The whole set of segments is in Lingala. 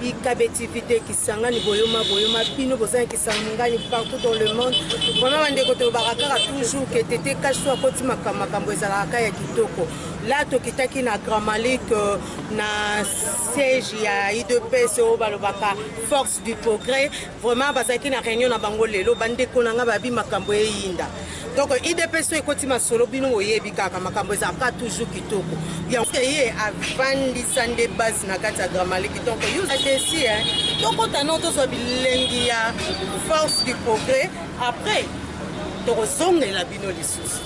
Bikabe TV te Kisangani boyoma boyoma bino boza na Kisangani partout dans le monde vraiment bandeko tolobaka kaka toujours ke tete kaso akoti makambo ezalaka kaka ya kitoko la tokitaki na grand malik euh, na siège ya idps oyo balobaka force du progrès Vraiment bazalaki na reunion na bango lelo bandeko na nga babi makambo eyinda donc idps oyo ekoti masolo bino boyebi kaka makambo ezalaka toujours kitoko yango ye avandisa nde base na kati ya gramaliki donc yodesi tokota no tozwa bilengi ya force du progrès après tokozongela bino lisusu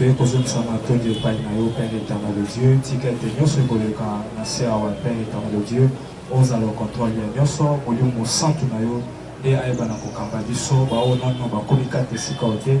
mpe kozongisa matondi epai na yo père éternel de dieu tika ete nyonso ekoleka na se awa père éternel de dieu ozala ocontrole ya nyonso molimo mosantu na yo nde ayebana kokamba biso baoyo nano bakomi kati esika oyo te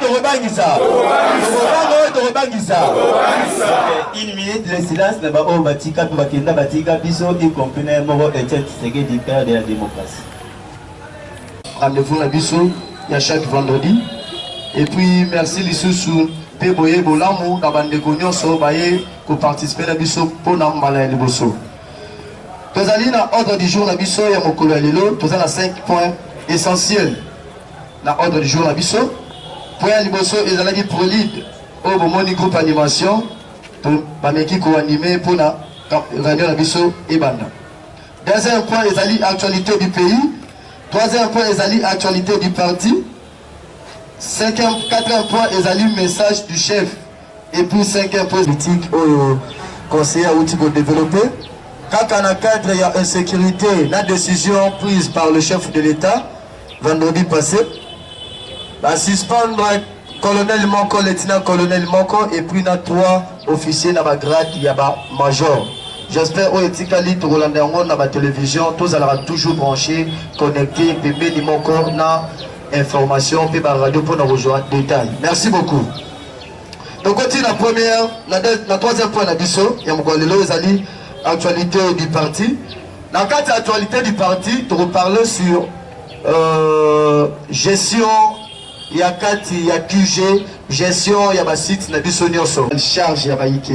tokobangisa tokobangisa une minute le silence na baoyo batika mpe bakenda batika biso y compris na ye moko etienne tshisekedi père de la démocratie rendez-vous na biso ya chaque vendredi et puis merci lisusu mpe boye bolamu na bandeko nyonso baye koparticipe na biso mpo na mbala ya liboso Tozali na ordre du jour na biso ya mokolo ya lelo, toza na 5 points essentiels na ordre du jour na biso. Point ya liboso ezalaki prolide oyo bomoni groupe animation bameki koanime mpo na réunion na biso ebanda. Deuxième point ezali actualité du pays. Troisième point ezali actualité du parti. Cinquième, quatrième point ezali message du chef. Et puis cinquième point politique oyo conseiller awuti ko développer kaka na cadre ya insécurité na décision prise par le chef de l'État vendredi passé ba suspendre colonel moko lieutenant colonel moko et puis na trois officiers na ba grade ya ba major j'espère oyo etikali tokolanda yango na ba télévision tozalaka toujours branché connecté pembeni moko na information mpe ba radio mpo na kozwa détail merci beaucoup tokoti na première na troisième point na biso ya mokolo lelo ezali actualité du parti na kati ya actualité du parti tokoparle sur euh, gestion ya kati ya qg gestion ya basite na biso nyonso charge ya bayike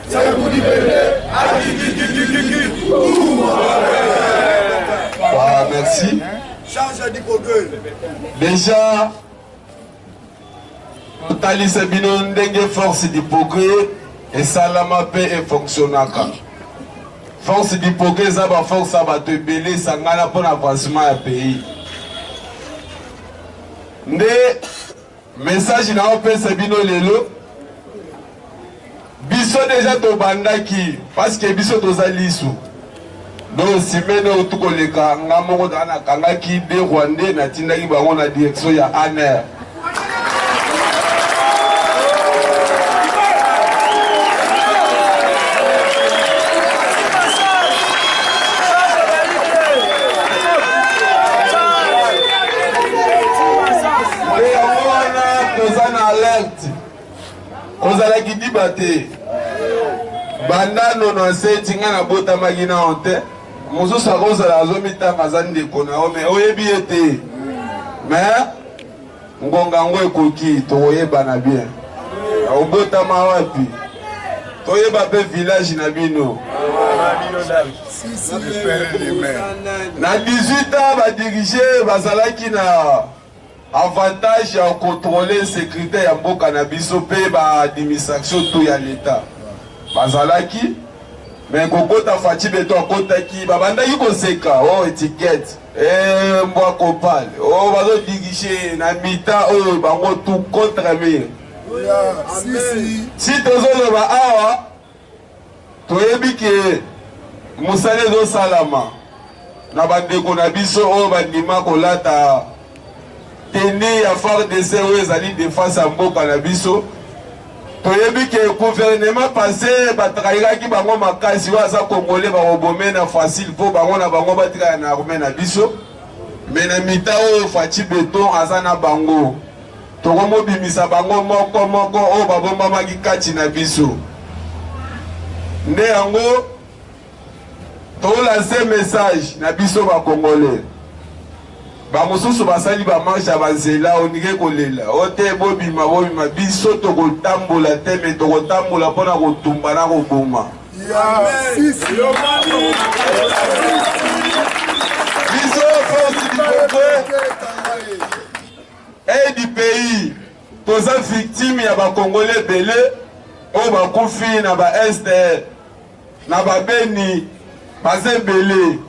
Voilà, merci. Déjà, totalisa bino ndenge force du progrès esalama mpe efonctionnaka force du progrès eza baforce ya bato ebele esangana mpo na avancement ya pays nde Message na opesa bino lelo biso deja tobandaki parce que biso toza lisu donc simene oyo tukoleka nga moko taa nakangaki de rwandais natindaki bango na direction ya aner Nde yango wana toza na alerte, kozala kidiba te. Banda nono aseti ngai nabotamaki na yo te, mosusu akozala azomitanga aza ndeko na yo, me oyebi ye te. Me ngonga yango ekoki, tokoyebana bien. Obotama wapi? Toyeba mpe village na bino. Na 18 ans badirige bazalaki na Avantage ya ko controler securite ya mboka na biso mpe ba administration to ya leta bazalaki me kokota faci beto akotaki babandaki koseka o oh, etikete eh, mbwa kopale o oh, bazodirige na mita oyo oh, bango tout contre mire si tozoloba awa Toyebi ke mosala ezosalama na bandeko na biso oyo bandima kolata teni ya FARDC oyo ezali defense ya mboka na biso. Toyebi ke guvernema pase batrahiraki bango makasi, oyo aza kongole bakobome na facile mpo bango na bango batikala na arme na biso me na mita oyo Faci Beton aza na bango. Tokomobimisa bango moko moko oyo babombamaki kati na biso. Nde yango tolanse message na biso bakongole bamosusu basali bamarshe ya banzela onike kolela o te bobima bobima biso tokotambola te me tokotambola mpo na kotumba na koboma biso force du Udpi toza victime ya ba congolais ebele oyo bakufi na ba este na ba beni baza ebele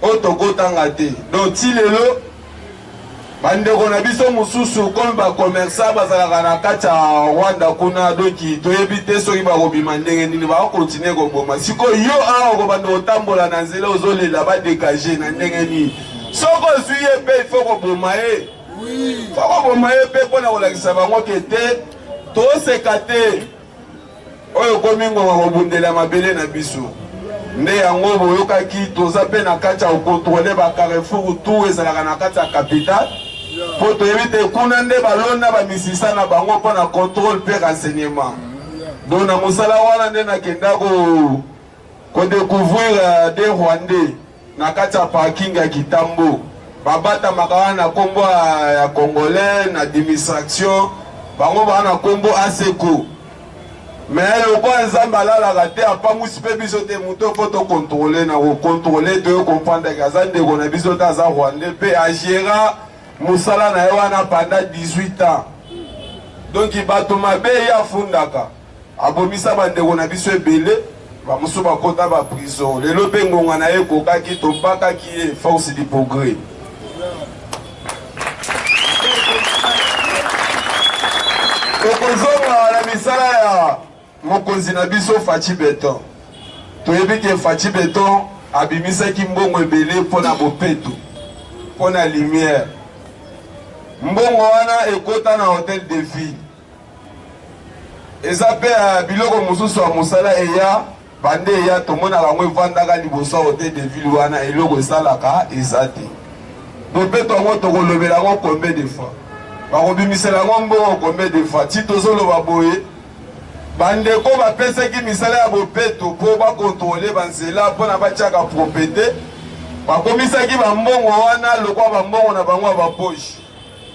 oyo tokotanga te donc ti lelo bandeko na biso mosusu komi bakomersa bazalaka na kati ya rwanda kuna doki toyebi te soki bakobima ndenge nini bakokontinue koboma sikoyo yo awa okobanda kotambola na nzela ozolela badegage na ndenge nini soki ozwi ye mpe ifo koboma ye fo koboma ye mpe mpo na kolakisa bango ke te toseka te oyo ekomi ngonga kobundela mabele na biso nde yango boyokaki toza mpe na kati ya kokontrole bacarrefour tour ezalaka na kati ya capitale mpo toyebi te kuna nde balona bamisisa na bango mpo na contrôle mpe renseignement donc na mosala wana nde nakenda ko kodecouvrir euh, de rwandais Na kati ya parking ya Kitambo babatamaka wana na kombo ya congolais na dimistraction bango baa na kombo aseko me lokola nzambe alalaka te apangwisi mpe biso te moto mpo tokontrole na kokontrole toyo komprendreke aza ndeko na biso te aza rwandais mpe agera mosala na ye wana panda 18 ans donk bato mabe ye afundaka Abomisa ba ndeko na biso ebele, ba mosusu bakota ba prison. Lelo pe ngonga na ye ekokaki, tobakaki ye force du progrès. Tokozonga na misala ya mokonzi na biso Fatshi Beton. Toyebi ke Fatshi Beton abimisaki mbongo ebele mpo na bopeto, mpo na lumière. Mbongo wana ekota na hotel de ville. Eza pe ya biloko mosusu ya mosala eya bande eya tomonaka yango evandaka liboso ya hotel de ville wana eloko esalaka eza te bopeto yango tokolobela yango combien de fois bakobimisela yango mbongo combien de fois ti tozoloba boye bandeko bapesaki misala ya bopeto mpo bakontrole banzela mpo na batiaka propete bakomisaki bambongo wana lokwa bambongo na bango ya baposhi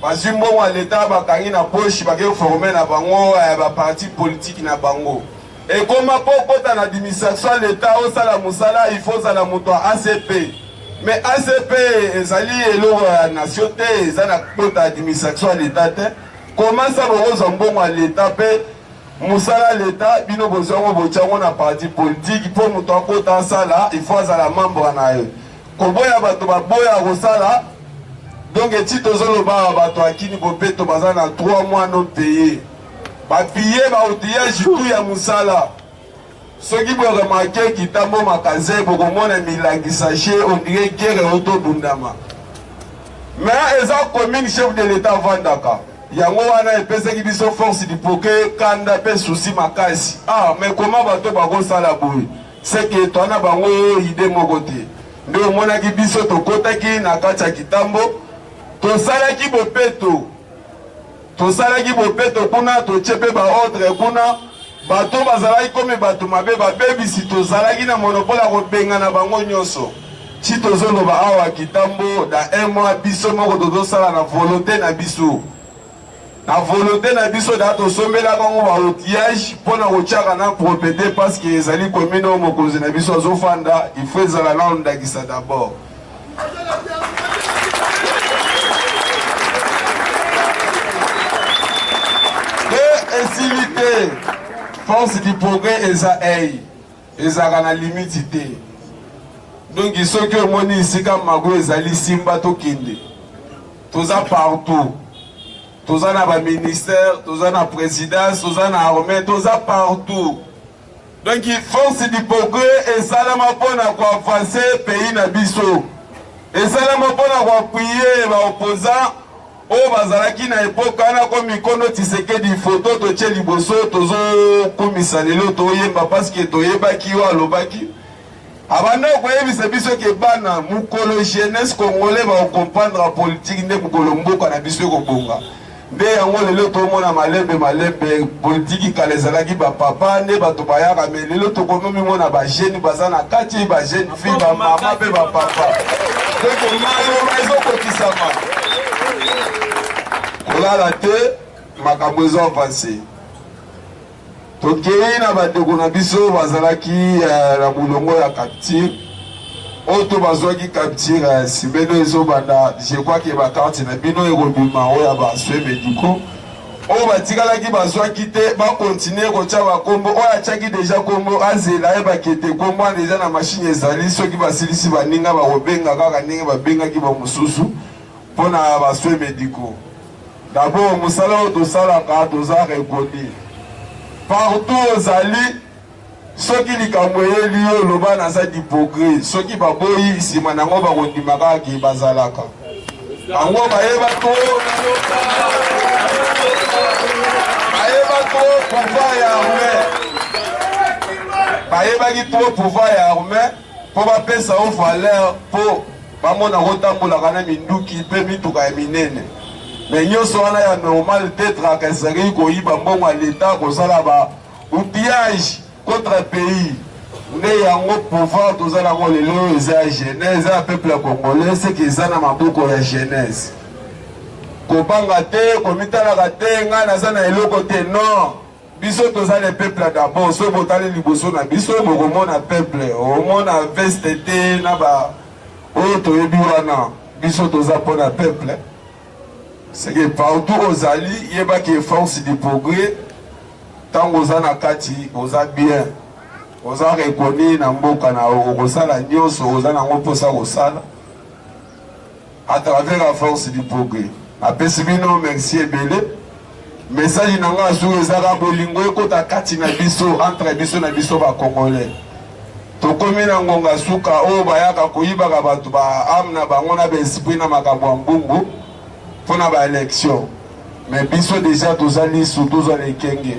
Bazwi mbongo ya leta bakangi na poche bake forme na bango ya eh, ba parti politique na bango ekoma mpo okota na administration ya leta osala mosala il faut ozala moto ya acp mais acp ezali eloko ya nation te eza na kota administration ya leta te komasa bokozwa mbongo ya leta mpe mosala leta bino bozwango botyango na parti politiki mpo moto akota asala il faut azala membre na ye Koboya bato baboya kosala donc eti tozoloba awa bato ya kini bopeto baza na 3 mois non paye bapiye baoutillage tout ya mosala soki boremarke kitambo makaze bokomona milangi sache ondire gere otobundama me eza commune chef de l'etat avandaka yango wana epesaki biso force dipoke kanda mpe susi makasi ah me koma bato bakosala boye Seke toi na bango idee moko te. Nde omonaki biso tokotaki na kati ya kitambo, tosalaki bopeto, tosalaki bopeto kuna, totie mpe baordre kuna. Bato bazalaki komi bato mabe, babebisi, tozalaki na monopole ya kobengana bango nyonso. Ci tozoloba awa kitambo, da un mois biso moko tozosala na volonte na biso. na volonte na biso da tosombela bango ba outillage mpo na kotyaka na propriete parce que ezali commune oyo mokonzi na biso azofanda il faut ezala nano ndakisa d'abord esili te force du progrès eza ei Ezalaka na limiti te. Donki soki omoni esika mago ezali simba tokende. Toza partout. Toza na ba ministère, toza na présidence, toza na armée, toza partout. Donki force du progrès esalama mpo na koavanse pays na biso. Esalama mpo na koapuye ba opposants oyo bazalaki na epoka wana ko mikono Tshisekedi foto totie liboso tozokumisa lelo toyemba paske toyebaki yo alobaki abanda koyebisa biso ke bana mokolo jeunesse congolais bakokomprendre politiki nde mokolo mboka na biso ekobonga nde yango lelo tomona malembe malembe politiki kala ezalaki bapapa nde bato bayaka me lelo tokomi mimona bagene baza na kati bagene vi bamama mpe bapapa ndeko maloba ezokokisama kolala te makambo ezo avanse tokei na bandeko na biso bazalaki eh, na molongo ya capture oyo to bazwaki capture ya eh, simeno ezobanda je crois ke bakarte na bino ekobima oyo ya baswe mediko oyo batikalaki bazwaki te bakontinue kotya bakombo oyo atyaki deja kombo azela ayebaki ete kombo wana eza na mashine ezali soki basilisi baninga bakobenga kaka ndenge babengaki bamosusu mpo na baswe mediko dabord mosala oyo tosalaka toza rekoni partout ozali Soki likambo eyeli yo, loba naza dipogre. Soki baboyi, nsima na yango bakondima kaka ke bazalaka. Bango bayeba to bayeba to pouvoir ya arme, bayebaki to pouvoir ya arme mpo bapesa yo valeur mpo bamona kotambolaka na minduki mpe mituka ya minene me nyonso wana ya normal tetraka ezalaki koyiba mbongo ya leta kozala ba Outillage contre pays nde yango pouvoir toza nango lelo oyo eza ya genèse eza ya peuple ya congolais seke eza na maboko ya genèse kobanga te komitalaka te ngai naza na eloko te non biso toza le peuple d'abord soki botali liboso na biso bokomona peuple omona veste te na ba oyo toyebi wana biso toza mpo na peuple Seke partout ozali yeba ke force du progrès tango oza na kati oza bien oza reconnu na mboka na yo okosala nyonso oza nango mposa kosala à travers la force du progrès napesi bino merci ebele Message na nga azu ezaka bolingo ekota kati na biso entre biso na biso ba congolais. Tokomi na ngonga suka oyo bayaka koyibaka bato ba ame na bango na baesprit na makambo ya mbumbu mpo na baelection. Me biso deja toza lisu tozwa na ekenge.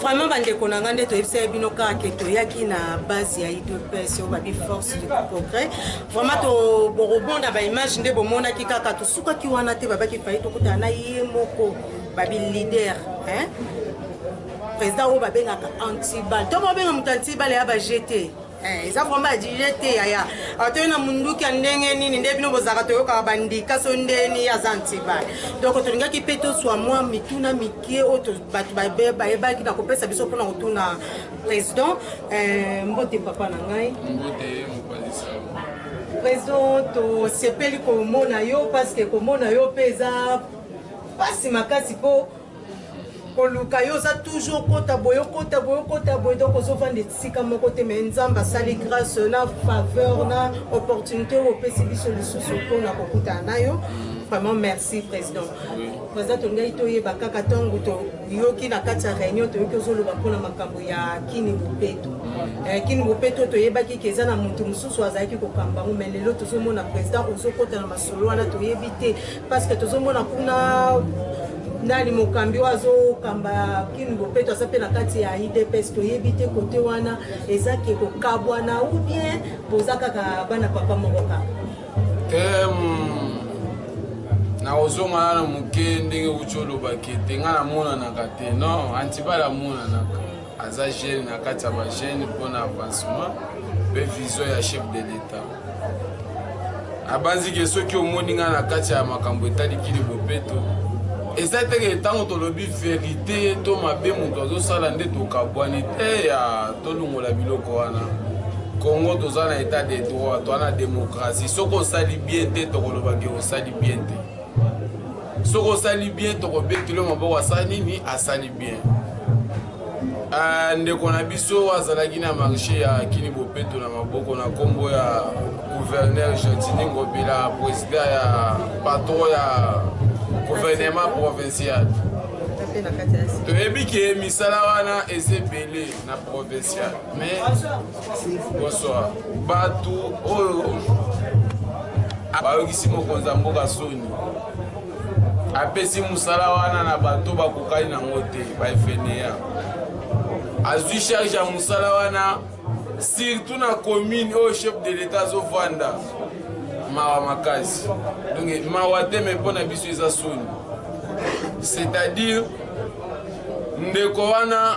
Vraiment bandeko na ngai nde toyebisaki bino kaka ke toyaki na base ya idps oyo babi force du progrès vraiment tobokobonda baimage nde bomonaki kaka tosukaki wana te babaki fai tokutana na ye moko babi leader hein? président oyo babengaka antibal to babenga moto antibal ya bajete Eh, eza vraimen ajuge te yaya atoyi na munduki ya ndenge nini nde bino bozalaka toyokaka bandika so ndeni aza antibale donc tolingaki mpe toswa mwa mituna mike oyo bato bayebaki na kopesa biso mpona kotuna président eh, mbote papa na ngai président tosepeli komona yo parce que komona yo mpe eza mpasi makasi mpo koluka yo oza toujours okota boye okota boye okota boye donc ozovanda esika moko te mai nzambe asali grâce na faveur na opportunité oyo opesi biso lisusu mpona kokutana na yo vraiment merci président président tolingaki toyeba kaka ntango toyoki na kati ya réunion toyoki ozoloba mpona makambo ya kini bopeto eh, kini bopeto toyebaki ke eza na moto mosusu azalaki kokamba yango mai lelo tozomona président ozokota na masolo wana toyebi te parce que tozomona kuna nani mokambi oyo azokamba kini bopeto aza mpe na kati ya idps toyebi te kote wana eza ke kokabwana ou bien boza kaka bana papa moko kaka nakozonga nano moke ndenge kuti olobaki ete ngai namonanaka te non antibal amonanaka aza jeune na kati ya bajeune mpo na avancement mpe vision ya chef de l'etat abanzike soki omoni ngai na kati ya makambo etali kili bopeto eza teke ntango tolobi verite to mabe moto azosala nde tokabwani te ya tolongola biloko wana congo toza na etat de droit toza na demokratie soki osali bien te tokoloba ke osali bien te soki osali bien tokobetelo maboko asali nini asali bien uh, ndeko na biso azalaki na marché ya kini bopeto na maboko na nkombo ya gouverneur gentini ngobila président ya patron ya gouvernement provincial toyebi ke misala wana eza ebele na provincial mais Bonsoir. Batu oyo bayokisi mokonzi ya mboka soni apesi mosala wana na bato bakokani nango te baefeneya azwi charge ya mosala wana surtout na commune oyo chef de l'etat azovanda mawa makasi donc mawa te me mpo na biso eza soni c'est-à-dire ndeko wana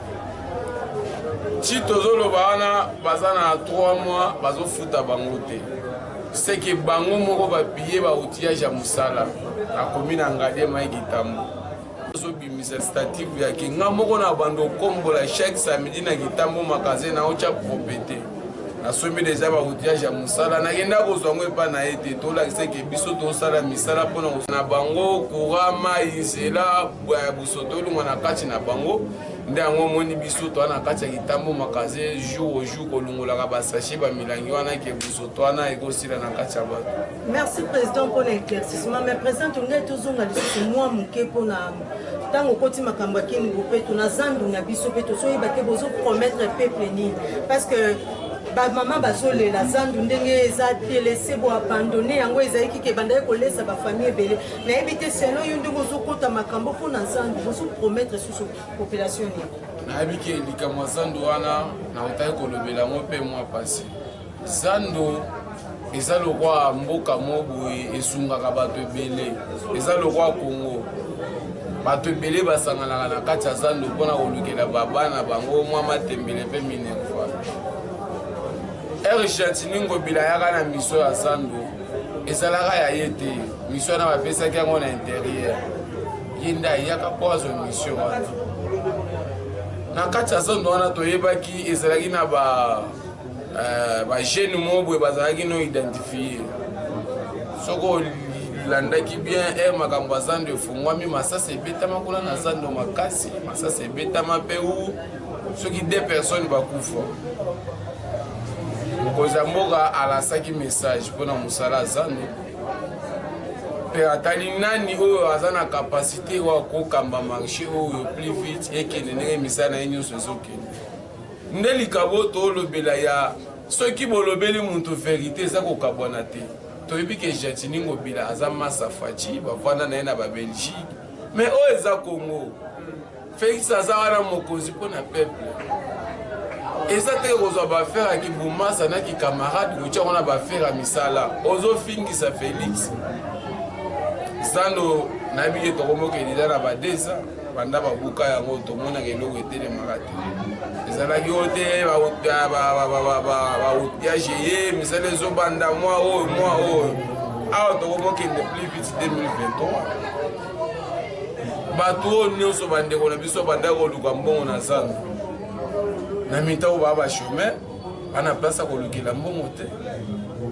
ti tozoloba wana baza na 3 mois bazofuta bango te seke bango moko babiye bautillage ya mosala akomi na ngade mai kitambo azobimisa statif yake nga moko na bando okombola chaque samedi na kitambo magasin na otya propete nasombi deja bautillage ya mosala nakenda kozwa yango epa na ye te tolakisaki biso tosala misala mpona na bango courant mai nzela Bwa ya busoto olongwa na kati na bango nde yango omoni biso toa na kati ya litambo makaze jour au jour kolongolaka basache bamilangi wana ke busoto wana ekosila na kati ya bato merci président mpo na éclaircissement mais président tolingai tozonga lisusu mwa moke mpo na ntango okoti makambo ya kini bopeto na zandu na biso mpe tozoyeba te bozopromettre peuple nini parce que bamama bazolela zandu ndenge eza telese boabandone yango ezalaki ke bandaki kolesa bafamille ebele nayebi te selon yo ndenge ozokota makambo mpo na zando bozo promettre susu population nini nayebi ke likambo ya zando wana nautaki kolobela yango mpe mwa mpasi zando eza lokwa mboka mo boye esungaka bato ebele eza lokwa kongo bato ebele basanganaka na kati ya zando mpona kolukela babana bango mwa matembele mpe minerva ergentini ngobila yaka na miso ya zando ezalaka ya ye te mission wana bapesaki yango na interieur ye nde ayaka mpo azwa mission wana na kati ya zando wana toyebaki ezalaki na ba euh, bajeune moko boye bazalaki no identifie soko olandaki bien e makambo ya zando efungwami masasi ebetama kuna na zando makasi masasi ebetama mpe u soki de personnes bakufa mokonzi ya mboka alasaki message mpo na mosala ya zando mpe atali nani oyo aza na kapasite wa kokamba marché oyo plus vite ekende ndenge misala na ye nyonso ezokende nde likabo tolobela ya soki bolobeli moto verite eza kokabwana te toyebi ke jatini ngobila aza masa faci bavanda na ye na babelgique mais oyo eza congo Felix aza wana mokonzi mpo na peuple eza te kozwa bafere ya kibumasa na kikamarade kotya wana bafere ya misala ozofingisa felix zando nayebi ye tokomokelila na badesa banda babuka yango tomonaka eloko etelemaka te ezalaki oyo te bautiage ye misala ezobanda mwa oyo mwa oyo awa tokomokende plus vite 2023 bato oyo nyonso bandeko na biso bandaki koluka mbongo na zando na mitau baa bachemin bana place ya kolukela mbongo te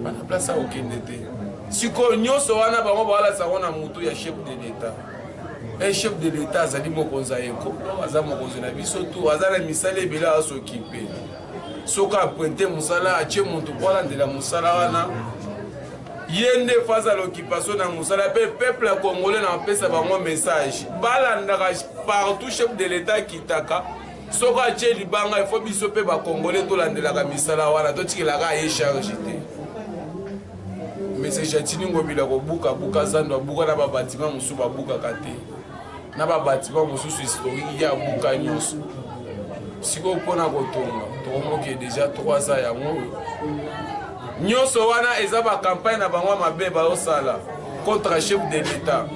bana place ya kokende te sikoyo nyonso wana bango bawalasa yango na motu ya chef de l'etat e chef de l'etat azali mokonzi ya ekolo aza mokonzi na biso tu aza na misala ebele azokipe soki apointe mosala atie motu mpo alandela mosala wana Ye nde face à l'occupation na musala pe peuple ya congolais na pesa bango message balandaka partout chef de l'etat akitaka soko atie libanga il faut biso pe ba congolais tolandelaka misala wana totikelaka ye charge te mese jatini ngobila kobukabuka zando abuka na babatima mosusu babukaka te na babatima mosusu historiki ya buka nyonso sikoyo mpona kotonga tokomoke deja 3 ans yango oyo nyonso wana eza bakampagne na bango ya mabe baosala contre chef de l'etat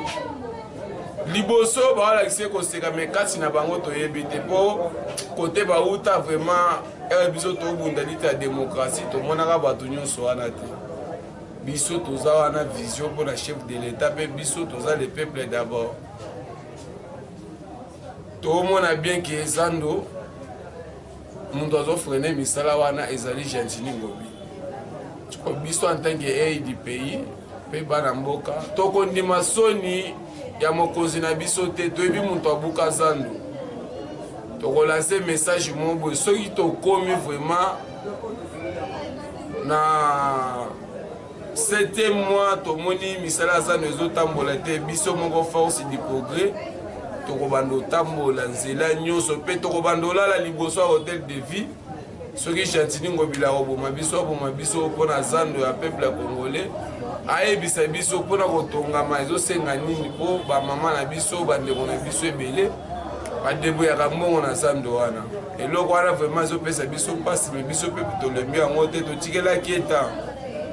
liboso baolakisa koseka me kati na bango toyebi te mpo kote bauta vraiment eh, biso tobunda liti ya demokrasi tomonaka bato nyonso wana te biso toza wana vision mpo na chef de l'etat mpe biso toza le peuple d'abord tomona bien ke ezando moto azofrene misala wana ezali gentini ngobi ko biso en tant que aid pays mpe bana mboka tokondima soni ya mokonzi na biso te toyebi moto abuka zando tokolanse message moko boye soki tokomi vraiment na septième mois tomoni misala ya zano ezotambola te biso moko force du progrès tokobanda otambola nzela nyonso mpe tokobanda olala liboso ya hotel de vie soki gentini ngobila akoboma biso aboma biso mpo na zando ya peuple ya congolais ayebisa biso mpo na kotongama ezosenga nini mpo bamama na biso bandeko na biso ebele badeboyaka mbongo na zando wana eloko wana vraiment ezopesa biso mpasi me biso mpe tolembi yango te totikelaki eta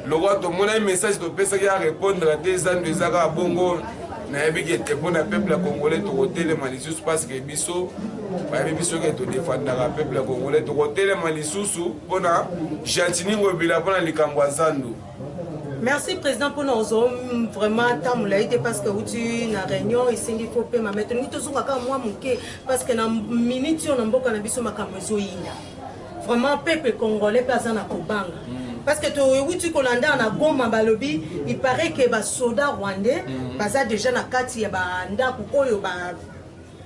lokola tomonaki message topesaki ya répondre te eza ndo eza kaka bongo nayebi ke te mpo na peuple ya congolais tokotelema lisusu parceke biso bayebi biso ke todefandaka peuple ya congolais tokotelema lisusu mpo na gentini ngobila mpo na likambo ya zandu merci président mpona ozo vraiment ntango molai te parce que outi na réunion esengi ko pema mai tolingi tozonga kaka mwa moke parce que na minute oyo na mboka na biso makambo ezoyinda vraiment peuple congolais mpe aza na kobanga mm. parce que toyewuti kolanda na goma balobi il paraît que basoda rwandais mm. baza déjà na kati ya bandako oyo ba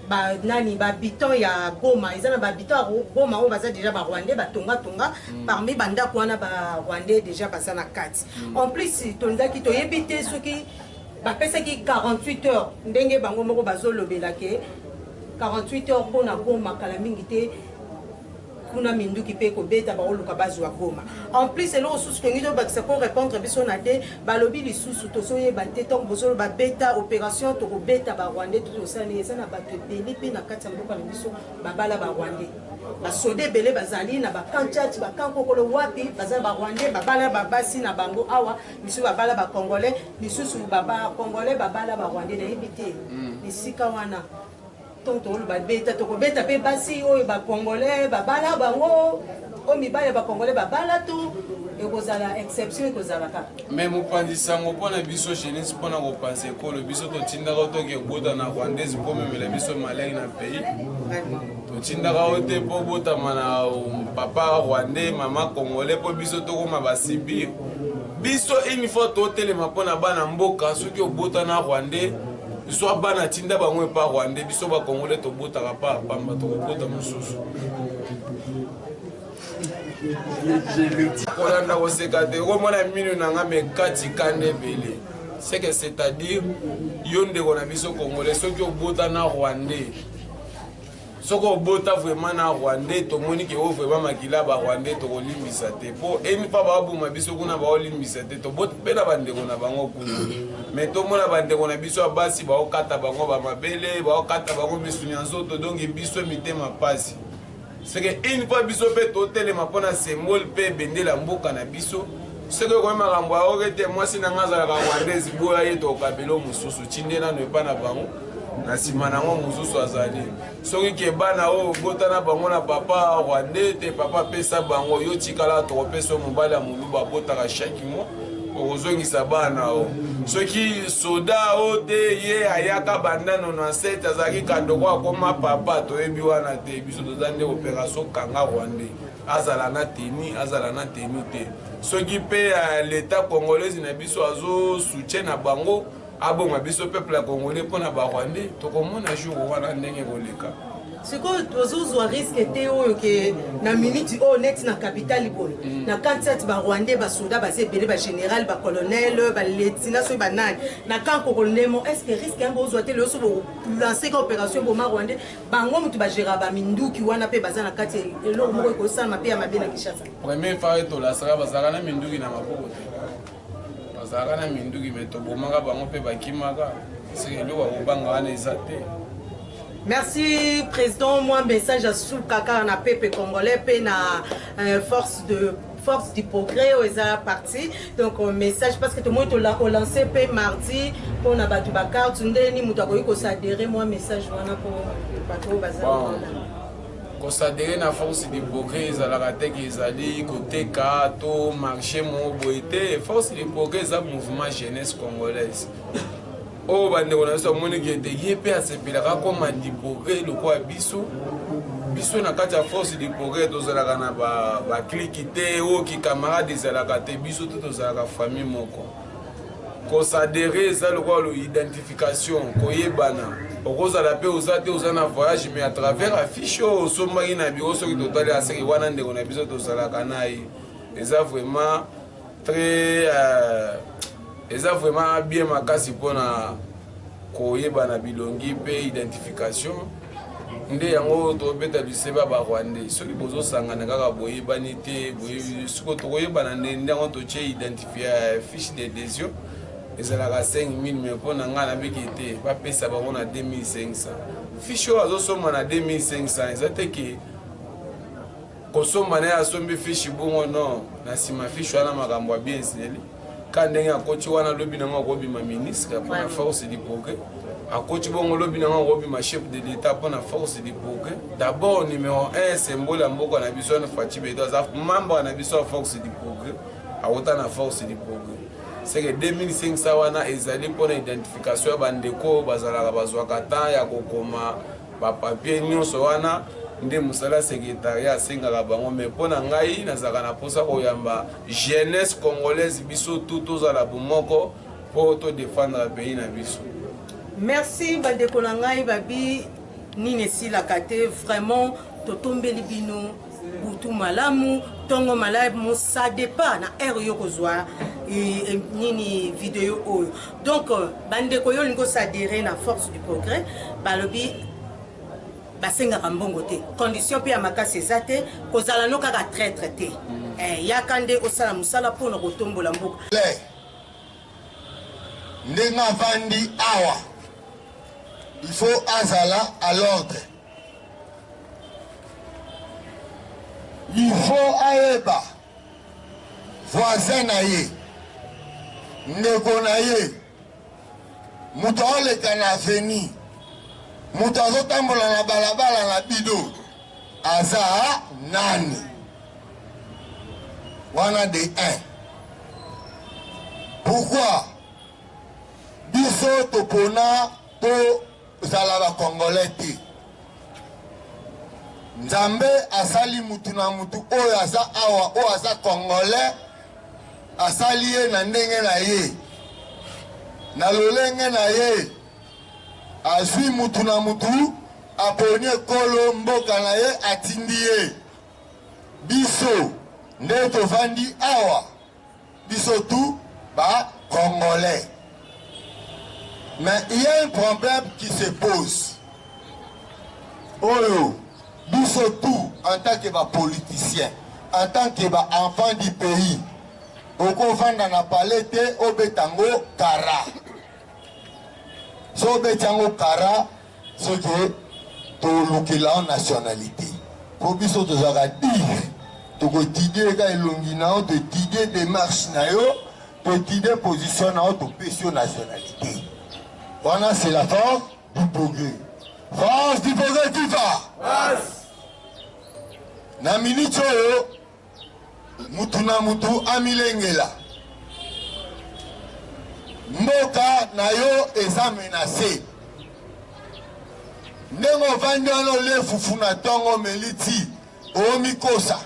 ba nani ba habitants ya Goma eza na ba habitants ya Goma oyo baza déjà ba Rwandais ba tonga tonga mm. parmi ba ndako wana ba Rwandais déjà baza na kati mm. en plus tolingaki toyebi te soki bapesaki 48 heures ndenge bango moko bazolobela ke 48 heures mpo na Goma kala mingi te kuna minduki mpe kobeta bakoluka bazwa goma en plus eloko susu tolingi tobakisa mpo répondre biso na te balobi lisusu tozoyeba te ntango bozoloba beta opération tokobeta barwandais to tosali eza na bato ebele mpe na kati ya mboka na biso babala barwandais basoda ebele bazali na bakan church bakan kokolo wapi baza barwandais babala babasi na bango awa misusu babala bacongolais misusu bacongolais babala barwandais nayebi te mm. esika wana Ntango tokoloba beta, tokobeta mpe basi oyo bakongole babala bango oyo mibali ya bakongole babala to ekozala exception ekozala kaka me mopanzi sango mpo na biso jeunesse mpo na kopanza ekolo biso totindaka o toke kobota na rwandaise mpo omemela biso malai na pays totindaka o te mpo obotama na papa rwandais mama congolais mpo biso tokoma basibir biso une fois totelema mpo na bana mboka soki obota na rwandais zwa bana tinda bango epa rwande biso bakongole tobotaka pa pamba tokobota mosusu kolanda koseka te okomona minu na nga mekati kanda ebele seke c'est-à-dire yo ndeko na biso congolais soki obota na rwandais soki obota vraiment na rwandais tomoni ke o vraiment makila ba rwandais tokolimbisa te mpo eni mpa baboma biso kuna baolimbisa te toboti mpe na bandeko na bango kuna me tomona bandeko na biso ya basi baokata bango bamabele baokata bango misuni ya nzoto donki biso mitema mpasi seke eni mpa biso mpe totelema mpo na symbole mpe bendela mboka na biso soki okomi makambo yaoke te mwasi na ngai azalaka rwandaise boya ye tokabelo mosusu tinde nano epa na bango na nsima na yango mosusu azali soki ke bana oyo obota na bango na papa rwande te papa apesa bango yo tikala tokopesa yo mobali ya moluba abotaka chaque mois okozongisa bana o soki soda o te ye ayaka bandano na sete azalaki kandoko akoma papa toyebi wana te biso toza nde operation kanga rwande azala na teni azala na teni te soki mpe eh, leta congolaise na biso azo soutien na bango aboma biso peuple ya congolais mpo na barwandais tokomona jour wana ndenge ekoleka sikoyo tozozwa riske te oyo ke na miniti oyo neti na capitale boye mm. na kansat barwandais basoda baza ebele bagénéral bacolonel baletina soki banani na camp kokolemo est ce que riske yango ozwa te leyoso bolanceka opération boma rwandais bango moto bagera baminduki wana mpe baza na kati eloko moko ekosalama mpe ya mabe na kinshasa premier fare tolasaka bazalaka na minduki na maboko te bazalaka na minduki me tobomaka bango mpe bakimaka seke eloko ya kobanga wana eza te merci président mwa message ya suka kaka na pepe congolais mpe na euh, force de force du progrès oyo eza parti donc euh, message parce que tomoni tolance mpe mardi mpona bato bakarte ndeni moto akoki kosadere mwa message wana mpo bato oyo baza kosadere na force de progrès ezalaka te ke ezali koteka to marché moko boye te force de progrès eza mouvement jeunesse congolaise oyo bandeko na biso bamoni ke ete ye mpe asepelaka akoma de progrès lokola biso biso na kati ya force de progrès tozalaka na bakliki te oyo kikamarade ezalaka te biso te tozalaka famille moko kosadere eza lokola lo identification koyebana okozala mpe oza te oza na voyage mais à travers affiche oyo osombaki na biro soki totali aseke wana ndeko na biso tozalaka na ye eza vraiment très euh, eza vraiment bien makasi mpona koyebana bilongi mpe identification nde yango tobeta liseba ba rwandais soki bozosangana kaka boyebani te siko tokoyebana nde nde yango totie identifie euh, fiche de desio ezalaka 5000 mai mpo na ngai nabiki te bapesa bango na 2500 fiche oyo azosomba na 2500 eza te ke kosomba naye asombi fishi bongo no na nsima fishi wana makambo ya bien ezeli ka ndenge akoti wana lobi nango akobima ministre mpona force du progrès akoti bongo lobi nango akobima chef de l'etat mpona force du progrès d'abord numero 1 symbole ya mboka na biso wana faci bedo aza membre na biso ya force du progrès awuta na force du progrès seke 2500 wana ezali mpona identification ya bandeko oyo bazalaka bazwaka temps ya kokoma ba papier nyonso wana nde mosala ya secretariat asengaka bango mai mpo na ngai nazalaka na mposa koyamba jeunesse congolaise biso tu tozala bomoko mpo todefendre pays na biso merci bandeko na ngai babi nini esilaka te vraiment totombeli bino butu malamu ntongo malamu ça dépend na heure yo kozwa nini video oyo donc euh, bandeko yo olingi osadere na force du progrès balobi basengaka mbongo te condition mpe ya makasi eza te kozala no kaka traitre te mm. eh, yaka nde osala mosala mpo na kotombola mboka ndenge avandi awa il faut azala à l'ordre Il faut ayeba voisin na ye ndeko na ye moto aoleka na aveni moto azotambola na balabala na bido aza nani wana de 1 pourquoi biso topona to Zala ba congolais te. Nzambe asali mutu na mutu oyo aza awa oyo aza congolais asali ye na ndenge na ye na lolenge na ye azwi mutu na mutu aponi ekolo mboka na ye atindi ye biso nde tovandi awa biso tout ba congolais mais il y a un problème qui se pose oyo biso tout en tant que ba politiciens en tant que ba enfants du pays okovanda na palais te obeta yango kara so obeti yango kara ce que tolukela nationalité mpo biso tozalaka dire tokotidie ka elongi na yo totidie demarche na yo totidie position na yo topesi yo nationalité wana c'est la force du progrès force du progrès viva na minute oyo Mutu na mutu amilengela. Mboka na yo eza menase. Ndenge ovandi wana olie fufu na tongo omeli ti omikosa.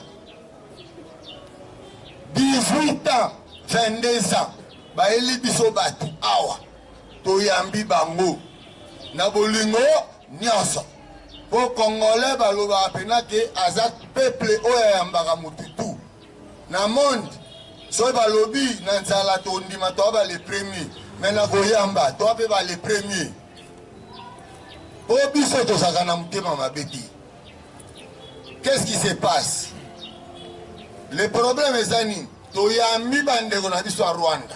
18 ans 22 ans bayeli biso bato awa toyambi bango na bolingo nyonso. Po congolais balobaka pena ke aza peuple oyo ayambaka mutu tout na monde soki balobi na nzala tondima toa ba le premier me na koyamba toa mpe ba le premier po biso tozalaka na motema mabe te qu'est-ce qui se passe le problème eza nini toyambi bandeko na biso ya rwanda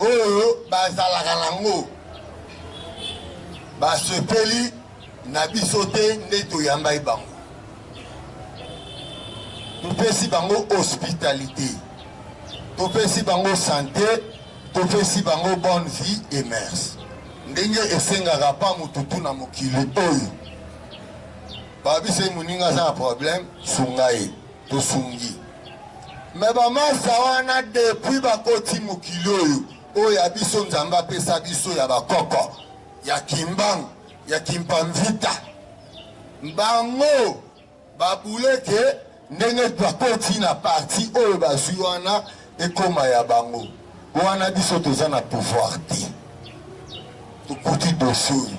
oyo bazalaka nango basepeli na biso te nde toyambai bango topesi bango hospitalité topesi bango sante topesi bango bonne vie et mers ndenge esengaka mpa motutu na mokili oyo babisa ye moninga aza na problème sunga ye tosungi me bamasa wana depuis bakoti mokili oyo oyo ya biso nzambe apesa biso ya bakoko ya kimbangu ya kimpamvita bango babuleke ndenge bakoti na parti oyo bazwi wana ekoma ya bango wana biso toza na pouvoir te tokuti dosie oyo